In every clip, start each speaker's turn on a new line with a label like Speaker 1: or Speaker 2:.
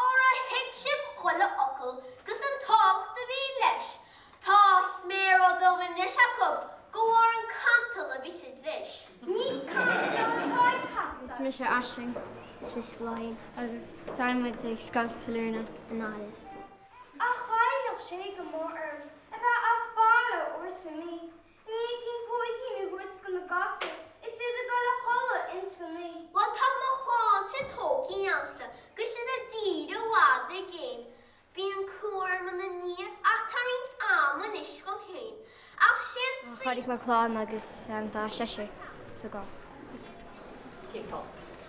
Speaker 1: Óra thuig sibh chuile fhocal 'gus an tábhacht a bhí leis, Tá sméara dubha anois acub go bharr an chantail a bhí sa dris. Ní cantal atá ag teastáil. Is mise Aisling. Is mise Bláithín. Agus tá muid ag Scoil Sailearna i nGaillimh. Ach ghoilleadh sé go mór orm a bheith as baile uair sa mí. B'éigin póigín a thabhairt go na gasúir is iad ag dul a chodladh ins an oí. Bhuel, tá mo chlannsa tógtha agamsa 'gus iad i dtír i bhfad i gcéin. Bíonn cumha orm ina ndiaidh ach tá roinnt ama anois dhom féin. Ach sin sin. Chaill mé clann agus tá seisear sa gclann. Cineál.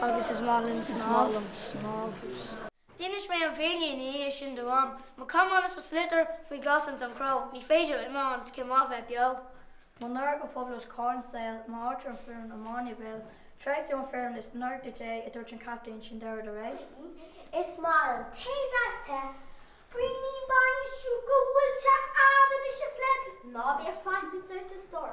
Speaker 1: Agus is maith liom snámh. D'inis mé an fhírinne ina dhiaidh sin do Mham. Mo camán is mo sliotar faoi ghlas ins an chró. Ní féidir liom iomáint cén mhaith bheith beo. Mo náire go poiblí os comhair an tsaoil, m'áit ar an bhfoireann iomána i mbaol. Thréig tú an fhoireann is náire dhuit é, a dúirt an captaen, sin deireadh le ré. Is maith liom tae deas te, braoinín bainne, siúcra, bhfuil sé a'd anois a phleib? Ná bíodh faitíos ort a stór.